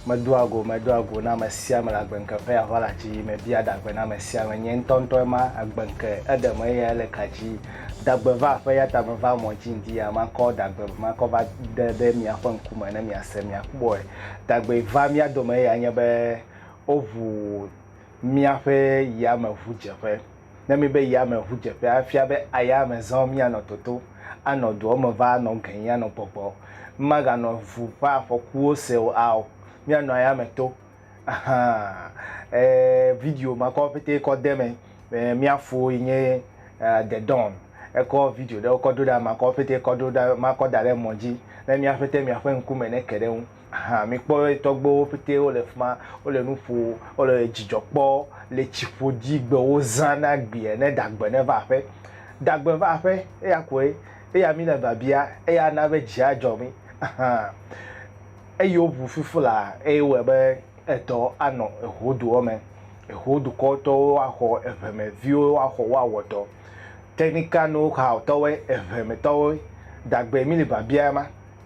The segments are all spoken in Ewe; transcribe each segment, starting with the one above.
Medoa go, medoa go na amesiame le agbeŋke ƒe aʋala dzi, mebia dagbe na amesiame, nye ŋutɔŋutɔ ema agbeŋke, eɖem eye ele ka dzi. Dagbe va aƒe, eyata meva mɔ dzi ŋdi ya, makɔ dagbe, makɔ va ɖe ɖe miaƒe ŋkume ne miase, miakpɔe. Dagbe va mía dome eyae nye be, woʋu míaƒe yameʋudzeƒe. ne míbe yame ŋudzeƒe afia be ayame zã míanɔ toto, anɔ doa me va anɔ gẽi anɔ gbɔgbɔ. Mímaganɔ ŋu ƒe afɔkuwo se o ao. Míanɔ ayame to. Ahaa. Ẽ, video ma kɔ pɛtɛ kɔ de eme. Ẽ, mía fo yi nye The Dawn. Ekɔ video ɖewo kɔ do ɖa, makɔ wo pɛtɛ kɔ do ɖa, makɔ da ɖe emɔ dzi ne míaƒe te míaƒe ŋkume neke ɖe eŋu. hã. Mikpɔ be tɔgbuiwo pɛtɛ wo le fi ma. Wo le nu ƒom. Wo le dzidzɔ kpɔm le tsi ƒodzi be wozã na gbe ene dagbe ne va aƒe. Dagbe va aƒe eya koe. Eya mi le biabia. Eya ana be dzi adzɔ mi hã. Eyi woŋu fifla eye wɔe be edɔ anɔ eho doa me. Eho dukɔ tɔwo axɔ eŋe me viwo axɔ wo awɔ dɔ. Technical know how tɔwoe, eŋe me tɔwoe. Dagbe mi le biabia ma.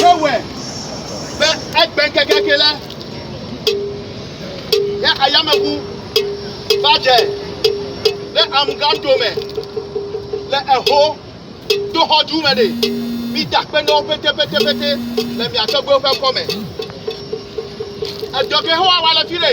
Yewɔe be egbe kekeake la, ya ayameŋu va dze ɖe amugato me le eho doxɔdu me ɖe. Mita kpe na wo petepetepete le mia tɔgbuiwo ƒe kɔme. Edɔ ke Yehowa wa le fi ɖe,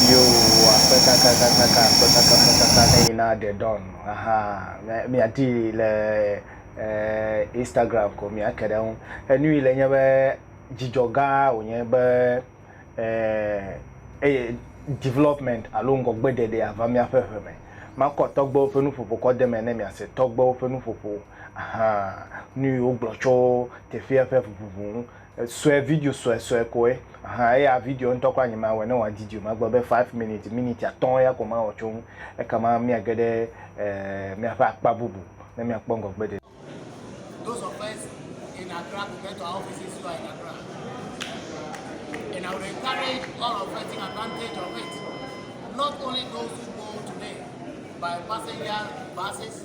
Yehowa ƒe kakakakaka ƒe kakafakaka neyina ɖe dawn ahaa mia miaɖii le e Instagram ko miake ɖe eŋu. Enu yi le nye be dzidzɔ gã wònye be e eye development alo ŋgɔgbeɖeɖe ava miaƒe ŋe me. Makɔ tɔgbewo ƒe nuƒoƒo kɔ de eme ne miase tɔgbewo ƒe nuƒoƒo ahaa nu yi wogblɔ tso teƒea ƒe ŋuŋu ŋu. Sue, video suesue koe. Ahan, eya video ŋutɔ kura nyemawɔe ne wòadidi o. Magblɔ be five minutes, miniti atɔ̃ ya ko mawɔ tso eŋu. Ekema míage ɖe míaƒe akpa bubu ne míakpɔ ŋgɔgbe ɖe. Those of us in Accra could get to our offices who are in Accra. And I would encourage all of us taking advantage of it. Not only those who go today by passenger buses,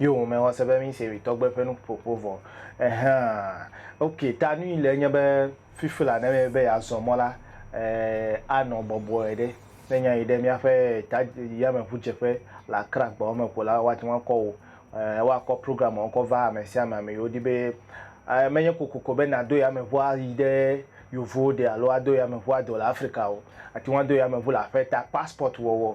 Yo wome xɔ se be mi se witɔ gbe ƒe nuƒoƒo vɔ. Ehaa. Ok, ta nui le enye be fifi la ne be be ya zɔ mɔ la, eh, a nɔ bɔbɔe ɖe. Ne nya yi ɖe mia ƒe ta yame ʋu dze ƒe le Accra gbawo me ko la, wa te ŋu akɔ wo, eh, wa kɔ program wo kɔ va ame sia ame ame yiwo di be, eh, me nye kokoko be na do yame ʋu a yi ɖe Yovowo de alo a do yame ʋu a do le Africa o. Ate ŋu a do yame ʋu le aƒe ta passport wɔwɔ.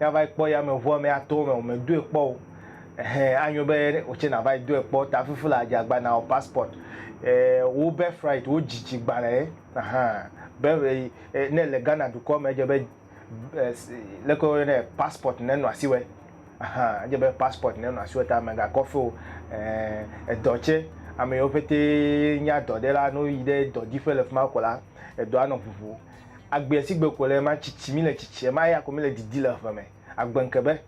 Ya va yi kpɔ yameʋua me ato eme o, me doe kpɔ o. Ehɛ, anyo be wò tsɛ nàva yi doe kpɔ. Ta fifi la, dze agba nawɔ passport. E, wò birthright, wò dzidzi gbalẽ ye. Ahan. Be, e, ne èle Ghana dukɔ me, edze be, e, leke woyɔnɛ, passport ne nɔ asiwɛ. Ahan, edze be passport ne nɔ asiwɛ ta mègakɔ fe o. E, edɔ tsɛ, ame yiwo ƒete nye adɔɖela, ne woyi ɖe dɔdiƒe le fima ko la, edɔa nɔ ʋuʋu. Agbea si gbe ko le ema tsitsi mi le tsitsi ema ya ko mi le didi le eve me. Agbe ŋke be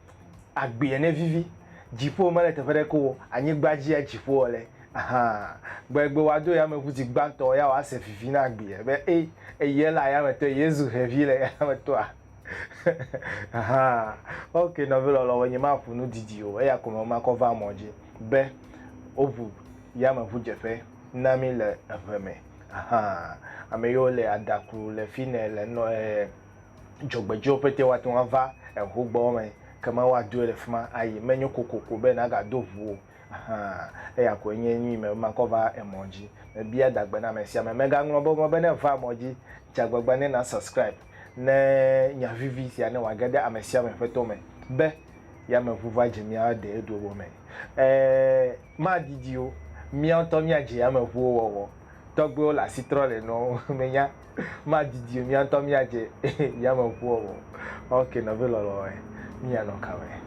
agbea ne vivi. Dziƒo mele teƒe ɖe ke o anyigba dzi ya dziƒo wɔ le ahan. Gbe egbe wa do yame ŋu zi gbãtɔ ya wa se vivi na agbea be e eye le ayame tɔ eye zu hevi le ayame tɔa ahan. Ok nɔvi lɔlɔ wo nye ma ƒo nu didi o eya ko me ma kɔ va mɔ dzi be wo ŋu yame ŋu dzeƒe. na mí le eŋe me. Ahan, ame yiwo le adaku le fi nɛ le nɔ e dzɔgbedziwo pɛtɛ woate ŋu ava eŋu gbɔ me kema woadoe le fi ma ayi. Menyo kokoko be nàgado ŋu o. Ahan, eya koe nye nu yi me be makɔ va emɔ dzi. Mebia dagbe na ame sia ame. Mègaŋlɔ be mɔ be ne èva emɔ dzi, dze agbagba ne na subscribe ne nya vivi sia ne wòage ɖe ame sia ame ƒe to me be, Yameŋu va dze mía deyeduwo me. E. madidi o, mía ŋutɔ míadze ame ʋuwo wɔwɔ. Tɔgbuiwo le asi trɔm le nuawo ŋu. Menya, madidi o, mía ŋutɔ míadze yame ʋu wɔwɔ. Ok, nɔvi lɔlɔ̃e, míanɔ kame.